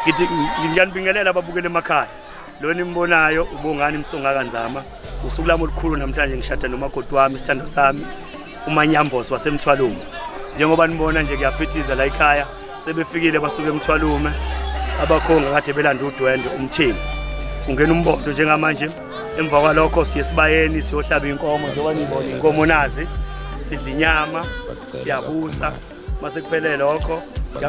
ngithi ngiyanibingelela ababukeli emakhaya lo nimbonayo ubongani msongaka nzama usuku lami olukhulu namhlanje ngishada nomakoti wami isithando sami umanyambosi wasemthwalume njengoba nibona nje kuyaphithiza la ekhaya sebefikile basuke emthwalume abakhonga kade belanda udwendwe umthengi ungena umbondo njengamanje emva kwalokho siye sibayeni siyohlaba inkomo njengoba nibona inkomo nazi sidla inyama siyabusa mase kuphele lokho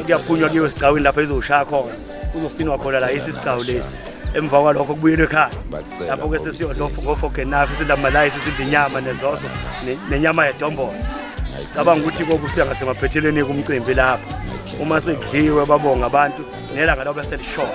kuyaphunywa kuyiwe esigcawini lapho izoshaya khona kuzosinwa khona la yisi isigcawu lesi emva kwalokho kubuyelwe ekhaya lapho ke sesiyodlofa ngofogenafi sidla amalayisi sidla inyama nezoso nenyama yedombolo cabanga ukuthi kokusuya ngasemaphethelweni kumcimbi lapho uma sekudliwe babonga abantu nelanga lobe selishona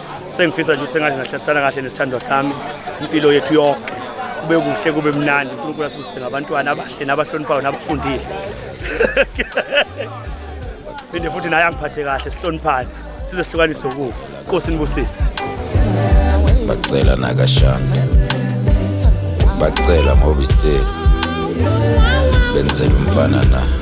sengifisa nje ukuthi sengathi ngahlalisana kahle nesithandwa sami impilo yethu yonke kube kuhle kube mnandi unkulunkulu asibusise ngabantwana abahle nabahloniphayo nabafundile phinde futhi naye angiphathe kahle sihloniphane size sihlukanise ukufa nkosi nibusise bacela nakashana bacela ngoba iseli benzela umfana na